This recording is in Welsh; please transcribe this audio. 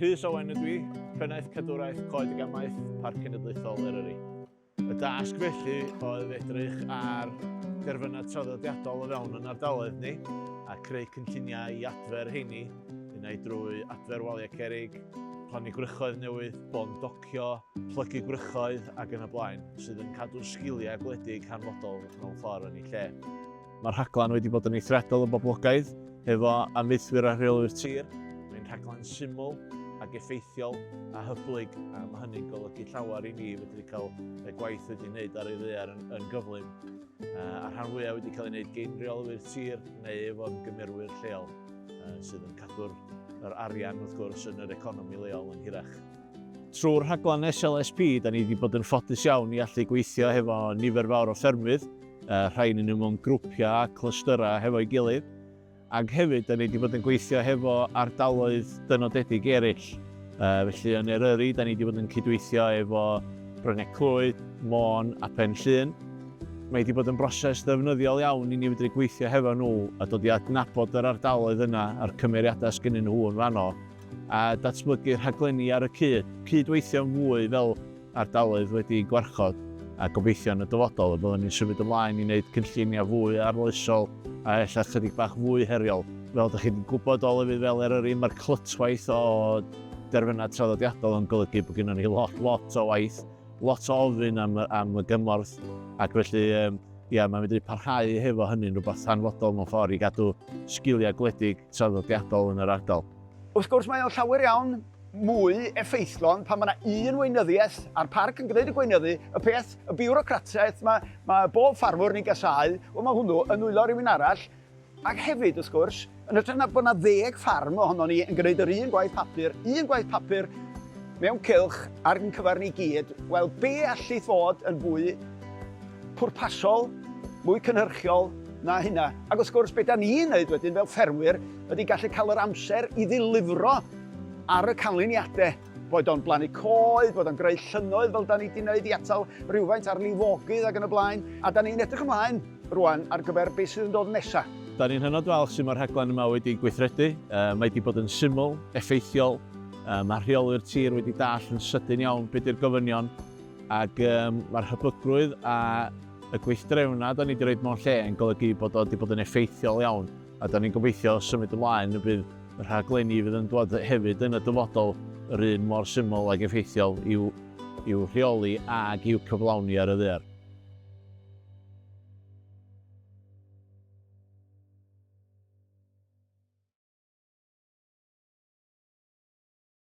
Rhys Owen ydw i, Pennaeth Cadwraeth Coed y Gamaeth, Parc Cenedlaethol Eryri. Y dasg felly oedd edrych ar derfynau traddodiadol o fewn yn ardaloedd ni a creu cynlluniau i adfer heini, unai drwy adfer waliau cerig, plannu gwrychoedd newydd, bon docio, plygu gwrychoedd ac yn y blaen, sydd yn cadw sgiliau gwledig hanfodol mewn ffordd yn ei lle. Mae'r rhaglen wedi bod yn eithriadol o boblogaidd, hefo ameuthwyr a rheolwyr tir. Mae'n rhaglen syml ac effeithiol a hyblyg, a mae hynny'n golygu llawer i mi fedru cael y gwaith wedi wneud ar ei ddear yn, yn gyflym, a rhan fwyaf wedi cael ei wneud gen reolwyr tir neu efo'r gymerwyr lleol, sydd yn cadw'r yr arian wrth gwrs yn yr economi leol yn hirach. Trwy'r rhaglen SLSP, da ni wedi bod yn ffodus iawn i allu gweithio hefo nifer fawr o ffermydd, Yy, rhai ynnyn nhw mewn grwpiau a clystyrau hefo'i gilydd, ac hefyd da ni wedi bod yn gweithio hefo ardaloedd dynodedig eraill. Yy, felly yn Eryri, da ni wedi bod yn cydweithio efo Bryne-Clwyd, Môn a Phen-llŷn. Mae wedi bod yn broses ddefnyddiol iawn i ni fedru gweithio hefo nhw a dod i adnabod yr ardaloedd yna a'r cymeriadau sgynnyn nhw yn fanno, a datblygu rhaglenni ar y cyd, cyd-weithio'n fwy fel ardaloedd wedi'u gwarchod, a gobeithio yn y dyfodol y byddwn ni'n symud ymlaen i wneud cynlluniau fwy arloesol a ella chydig bach fwy heriol. Fel dych chi wedi gwybod o lefydd fel Eryri, mae'r clytwaith o derfynau traddodiadol yn golygu bod gennym ni lot, lot o waith, lot o ofyn am, am y gymorth, ac felly um, ia, mae'n medru parhau hefo hynny'n rhywbeth hanfodol mewn ffordd i gadw sgiliau gwledig traddodiadol yn yr ardal. Wrth gwrs mae o'n llawer iawn mwy effeithlon pan mae yna un weinyddiaeth a'r parc yn gwneud y gweinyddu, y peth, y biwrocratiaeth mae, mae bob ffarmwr ni'n gasau, wel mae hwnnw yn nwylo rhywun arall. Ac hefyd, wrth gwrs, yn ytrach na bod yna ddeg ffarm ohono ni yn gwneud yr un gwaith papur, un gwaith papur mewn cylch ar yn cyfer ni gyd, wel be allu fod yn fwy pwrpasol, mwy cynhyrchiol na hynna. Ac wrth gwrs, beth da ni'n neud wedyn fel ffermwyr ydy gallu cael yr amser i ddilifro Ar y canlyniadau, boed o'n blannu coed, boed o'n greu llynnoedd fel da ni wedi wneud i atal rhywfaint ar lifogydd ac yn y blaen, a da ni'n edrych ymlaen rwan ar gyfer beth sydd yn dod nesaf. Da ni'n hynod falch sut mae'r rhaglen yma wedi gweithredu, mae wedi bod yn syml, effeithiol, mae rheolwyr tir wedi dallt yn sydyn iawn beth ydy'r gofynion ac mae'r hyblygrwydd a y gweithdrefnau da ni wedi rhoi mewn lle yn golygu bod o wedi bod yn effeithiol iawn. A dan ni'n gobeithio symud ymlaen y bydd y rhaglenni fydd yn dod hefyd yn y dyfodol yr un mor syml ag effeithiol i'w i'w rheoli ag i'w cyflawni ar y ddaear.